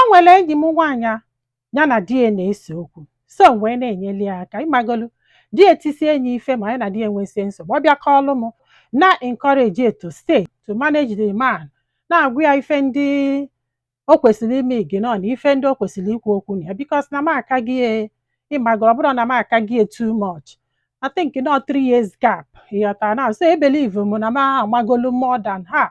o nwere enyi m nwaanyị a ya na di ya na-ese okwu so m wee na-enyeli ya aka ịmagolu di ya etisie nya ife ma ya na di ya enwesie nsogbu ọ bịa kọọlụ m na-encourage ya to stay to manage the man na-agwa ya ife ndị o kwesịrị ime ignore na ife ndị o kwesịrị ikwu okwu na ya because na m akalị ya ịmagoro ọ bụrọ na m akalị ya too much I think not three years gap ịghọtara na so ebelieve m na m amagolu more than her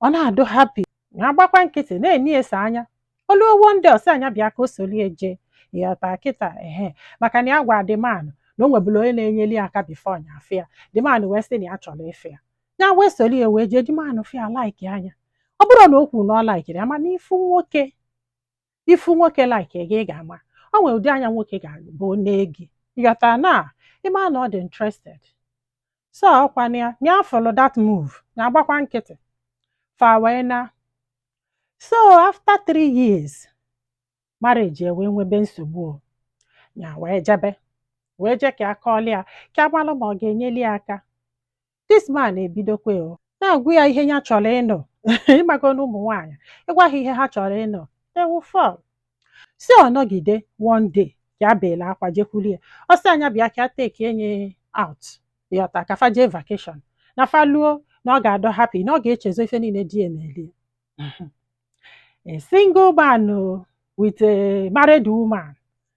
ọ na-adị happy ya agbakwa nkịtị na-eni ese anya oluo one day ọ sị ya nya bịa ka o solie jee ịghọta kịta ehe maka na ya gwa the man na o nwebulu onye na-enyeli ya aka before nya afụ ya the man wee sị na ya chọrọ ịfụ ya ya wee solie wee jee the man fụ ya like nya ọ bụrọ na o kwuru na ọ likerị ya mana ị fụ nwoke ị fụ nwoke like gị ị ga-ama o nwere ụdị anya nwoke ga-abụ nee gị ịghọta na ị ma na ọ dị interested so ọkwa na ya afụlụ that move ya agbakwa nkịtị fa wee na so after three years marriage e wee nwebe nsogbu o. ya wee jebe wee je ka ọ kọọlụ ya ka a malụ ma ọ ga-enyeli ya aka this man ebidokwa o na-agwa ya ihe ya chọrọ ịnụ ịmago na ụmụ nwaanyị ị gwa ha ihe ha chọrọ ịnụ they will fall so ọ nọgide one day ka ya beela akwa jekwuru ya ọ sị ya nya bịa ka ya take nya out ịghọta ka fa jee vacation na fa luo na ọ ga-adị happy na ọ ga-echezo ife niile di ya meli ya a single man o with a married woman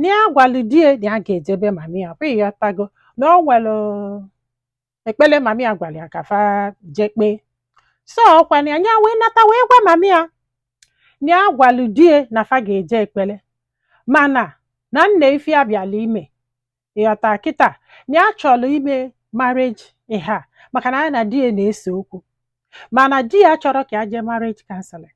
na ya gwalụ di ya na ya ga-eje be mami ya kwa ịghọtago na o nwere ekpere mami ya gwara ya ka fa jee kpee so ọkwa na ya wee nata wee gwa mami ya na ya gwalụ di ya na fa ga-eje ekpere mana na nee ife ya bịalụ ime ịghọta kịta na ya chọrọ ime marriage ịha maka na ya na di ya na-ese okwu mana di ya chọrọ ka ya jee marriage counseling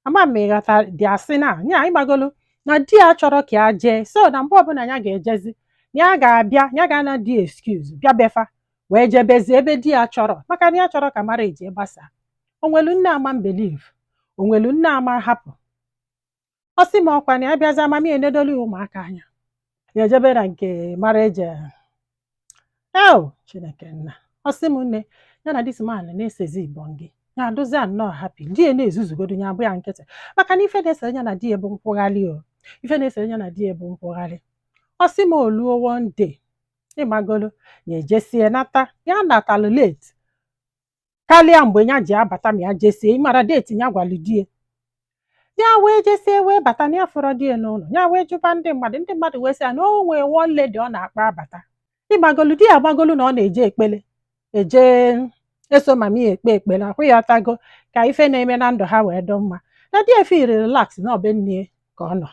ama m ịghọta dị asị na ya ịmagolu na di ya chọrọ ka ya jee so na mgbe ọbụla ya ga-ejezi na ya ga-abịa ya ga-ana di excuse bịa be fa wee jebezi ebe di ya chọrọ maka na ya achọrọ ka marriage gbasaa o nwelu nne ama believe o nwelu nne ama hapụ ọ sị m ọkwa na ya bịazia mami ya enedolu ụmụaka anya ya ejebe na nke marriage o chineke nna ọ sị m nne ya na this man na-esezi igbo gị ya adịzia nnọọ happy di ya na-ezuzugodu ya agba ya nkịtị maka na ife na-esere ya na di ya bụ nkwụgharị o ife na-esere ya na di ya bụ nkwụgharị ọ sị m oluo one day ịmagolo ya ejesie nata ya natalụ late karịa mgbe ya ji abata ma ya jesie ị mara deeti ya gwara di ya ya wee jesie wee bata na ya afụrọ di ya n'ụlọ ya wee jụba ndị mmadụ ndị mmadụ wee sị ya na o nwee one lady ọ na-akpọ abata ịmagolu di ya amagolu na ọ na-eje ekpele eje eso mami ya ekpe ekpele ọkwa ị ghọtago ka ife na-eme na ndụ ha wee dị mma na di ya efiili relax na ọ be nne ya ka ọ nọ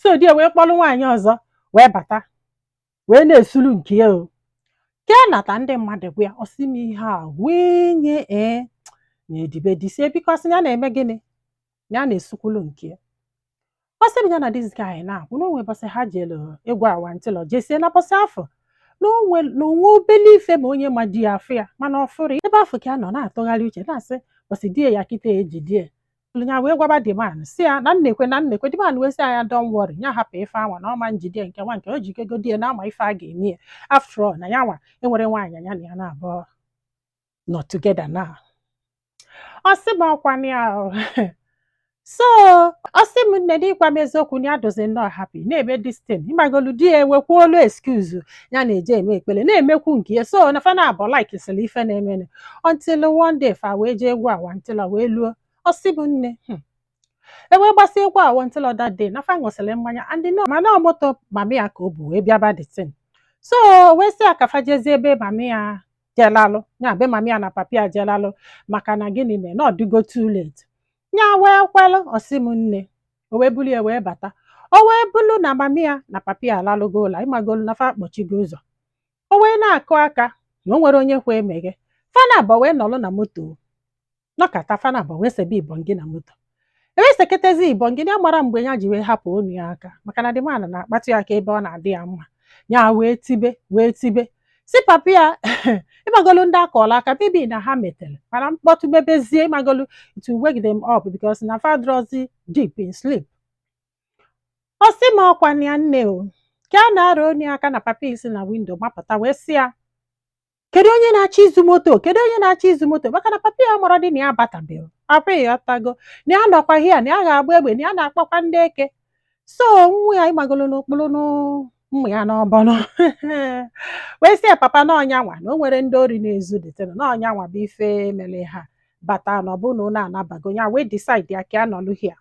so di ya wee kpọrọ nwaanyị ọzọ wee bata wee na-esulu nke ya o ka ya nata ndị mmadụ gwa ya ọ sị m ihe a wee nye ee na edibe disie because ya na-eme gịnị ya na-esukwulu nke ya ọ sị m ya na this guy na-akwụ na o nwe bọsị ha jelu egwu awantịlọ jesie na bọsị afụ na o nwe obele ife ma onye ma di ya afụ ya mana ọ fụrọ ya. ebe afụ ka ya nọ na-atụgharị uche na-asị bọsị di ya kịta ejide ya ya wee gwaba the man sị ya na nnekwe na nnekwe the man wee sị ya don't worry ya hapụ ife anwa na ọma njide nke nwa nke o ji kego di ya na a ma ife a ga-eme ya after all na ya nwa enwerọ nwaanyị ya na ya na-abụọ nọ together now ọ sị m ọkwa na ya o. so ọ sị m nne na ịgwa m eziokwu na ya dịzi nnọọ happy na-eme distin ịmagolu di ya ewekwuolu excuse ya na-eje eme ekpere na-emekwu nke ya so na fa naabọ like sịrị ife na-emenụ until one day fa wee jee egwu awantịlọ wee luo ọ sị m nne hmm. e wee gbasie egwu awantịlọ that day na fa ṅụsịrị mmanya and all mana ọ moto mami ya ka o bu wee bịaba the thing so o wee sị ya ka fa jezie ebe mami ya je lalụ ya be mami ya na papi ya je lalụ maka na gịnị mee na ọ dịgo too late ya wee kwelụ ọ sị m nne o wee bulu ya wee bata o wee bụrụ na mami ya na papi ya alalụgo ụla ịmagolu na fa akpọchigo ụzọ o wee na-akụ aka na o nwerọ onye kwe emeghe fa naabọ wee nọrọ na moto nọkata fa naabọ wee sebe ibọngị na moto ewee seketezi ibọngị ya amarọ mgbe ya ji wee hapụ onu ya aka maka na the man a na-akpatụ ya aka ebe ọ na-adị ya mma ya wee tibe wee tibe so papa ya ịmagolu ndị akụọla aka bibi na ha metere mana mkpọtụ mebezie ịmagolu to wake them up because na fa adịrọzi deep in sleep ọ sị m ọkwa na ya nne o ka a na-arụ onye aka na papi ya esi na windo mapụta wee sị ya kedu onye na-achọ izu moto kedu onye na-achọ izu moto maka na papi ya mara dị na ya abatabeghị ọkwa ị ghọtago na ya nọkwa hia na ya ga-agba egbe na ya na-akpọkwa ndị eke so nwa ya ịmagolu n'okpuru mmanya n'ọbọnụ wee sị ya papa na ọ nya nwa na o nwerọ ndị ori na-ezu detena na ọ nya nwa bụ ife mere ha bata na ọ bụ na ụlọ anabago ya wee decide ya ka ya nọlụ hia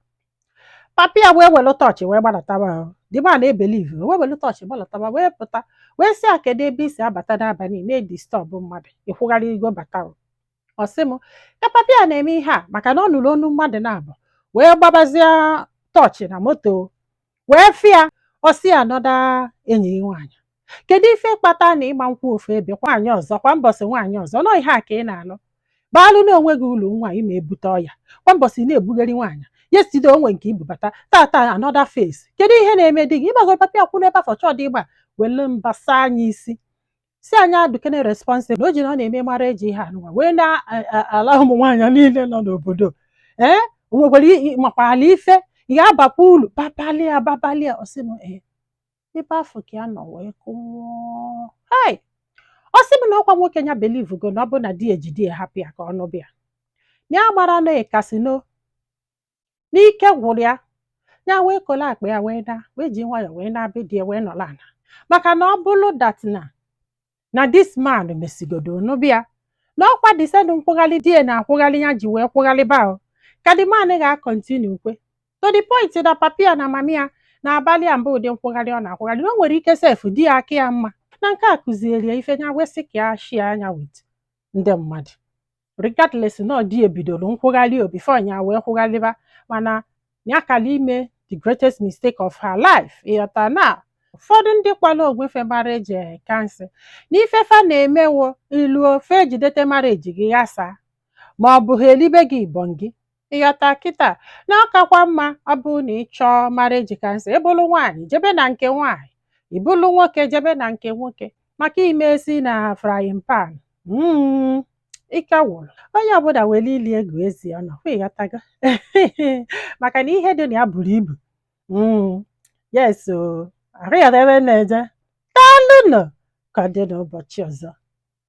papi ya wee were tọọchị wee gbadataba the man a ebeliv wee were tọọchị gbadataba wee pụta wee sị ya kedu ebe i si abata n'abalị na-edistọbụ mmadụ ị kwụgharịgo bata o. ọ sị m ka papi ya na-eme ihe a maka na ọ nụrụ onu mmadụ naabọ wee gbabazie tọọchị na moto wee fụ ya ọ sị ya another enyi gị nwaanyị kedu ife kpata na ị ma-akwụ ofu ebe kwa nwaanyị ọzọ kwa mbọsị nwaanyị ọzọ nọ ihe a ka ị na-alụ baalụ na onwe gị ụlọ nwa ị ma ebute ọya kwa mbọsị na-ebugheri nwaanyị yesterday o nwe nke i bubata taata another face kedu ihe na-eme di gị ịgbagoro papi akwụ n'ebe afụ chọọ dị ịgba wele mba saa nya isi sị nya adụkene responsible o ji na ọ na-eme marriage ihe anụnwa wee na-ala ụmụ nwaanyị niile nọ n'obodo ee o nwekwara makwa ala ife ị ga-abakwa ulu babalia babalia ọ sị m ee ebe afụ ka ya nọ wee kụọ hei ọ sị m na ọkwa nwoke ya believe go na ọ bụ na di ya ejide ya hapụ ya ka ọ nụba ya na ya mara na ọ ga-asị no na ike gwụrụ ya ya wee kole akpa ya wee na wee ji nwayọọ wee naa be di ya wee nọlọ ana maka na ọ bụrụ that na na this man mesigodo nụba ya na ọkwa the same nkwụgharị di ya na-akwụgharị ya ji wee kwụgharịba ahụ ka the man ga-acontinue kwa to the point na papi ya na mami ya na-abalị ya mba ụdị nkwụgharị ọ na-akwụgharị na o nwere ike sef di ya aka ya mma na nke a kụziere ya ife ya wee sị ka ya share nya with ndị mmadụ regardless na ọ di ya bidoro nkwụgharị o before ya wee kwụgharịba mana ya kara ime the greatest mistake of her life ị ghọta na ụfọdụ ndị kpọlụ onwe fa marriage counselor n'ife fa na-emewo i lu o fa ejidete marriage gị ghasa ma ọ bụ ha elibe gị ibọn gị Ị ghọta kịta na ọ kakwa mma ọ bụrụ na ị chọọ marriage counselor, ị bụrụ nwaanyị jebe na nke nwaanyị, ị bụrụ nwoke jebe na nke nwoke maka ime esi na frying pan. Mm, ike gwụrụ. Onye ọbụla were ile ya gụọ eze ya ọnụ, ọkwa ị ghọtago? maka na ihe dị na ya buru ibu. Mm, yes o, ahụ ya ebe na-eje. Daalụ nụ, ka ọ dị n'ụbọchị ọzọ.